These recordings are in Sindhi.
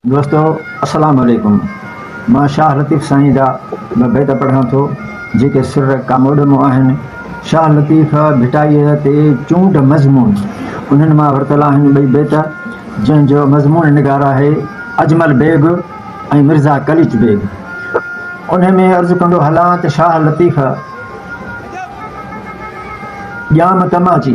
دوستو السلام عليڪم مان شاهه لطيف سائين جا ٻه بيت پڙهان ٿو جيڪي سر ڪاموڏمو آهن شاهه لطيف ڀٽائيء تي چونڊ مضمون انهن مان ورتل آهن ٻئي بيت جنهن جو مضمون نگار آهي اجمل بيگ ۽ مرزا قليچ بيگ انهن ۾ عرض ڪندو هلان ته شاهه لطيف ڄام تماچي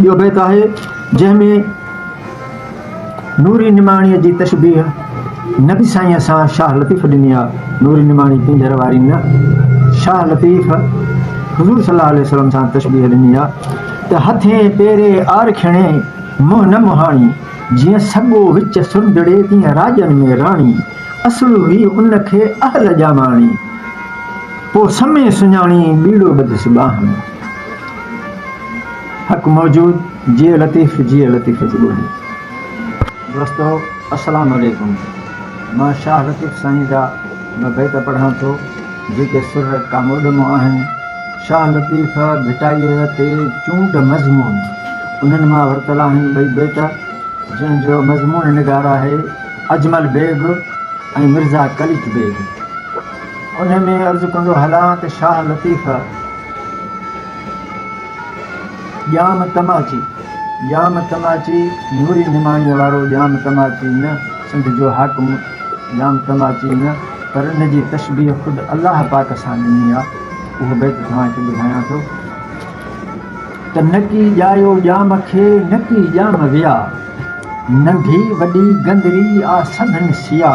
ٻيو بيت آهي جنهن ۾ نوري نماڻيء جي تشبيهه نبي سائينء سان شاهه لطيف ڏني آ، نوري نماڻي پينجهر واري نه، شاهه لطيف حضور صلي الله عليه وسلم سان تشبيهه ڏني آ ته هٿين پيري آر کڻي منهن نه مهاڻي، جيئن سڳو وچ سرجهڙي تيئن راڄن ۾ راڻي، اصل هئي ان کي اهل ڄاماڻي، پوء سمي سڃاڻي ٻيڙو ٻڌس ٻانهن. حق موجود جيئي لطيف جيئي لطيف جي ٻولي. دوستو السلام عليڪم مان شاھ لطيف سائين جا ٻه بيت پڙھان ٿو جيڪي سر ڪاموڏ مان آھن شاھ لطيف ڀٽائيء تي چونڊ مضمون انھن مان ورتل آھن ٻئي بيت جنھن جو مضمون نگار آھي اجمل بيگ ۽ مرزا قليچ بيگ انهي ۾ عرض ڪندو هلان ته شاهه لطيف ڄام تماچي، ڄام تماچي نوري نماڻيء وارو ڄام تماچي نه، سنڌ جو حاڪم ڄام تماچي نه، پر ان جي تشبيهه خود الله پاڪ سان ڏني آ، اهو بيت توهان کي ٻڌايان ٿو ته نڪي ڄايو ڄام کي نڪي ڄام ويا، ننڍي وڏي گندري آ سڀن سيا.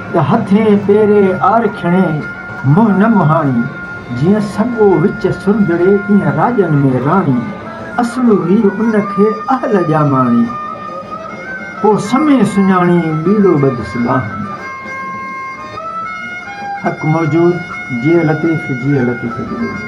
ته هٿين پيري آر کڻي منهن نه مهاڻي، جيئن سڳو وچ سرندڙي تيئن راڄن ۾ راڻي، اصل هئي ان کي اهل ڄاماڻي، پوء سمي سڃاڻي ٻيلو ٻڌس ٻانهن. حق موجود جيئي لطيف جيئي لطيف جي ٻولي.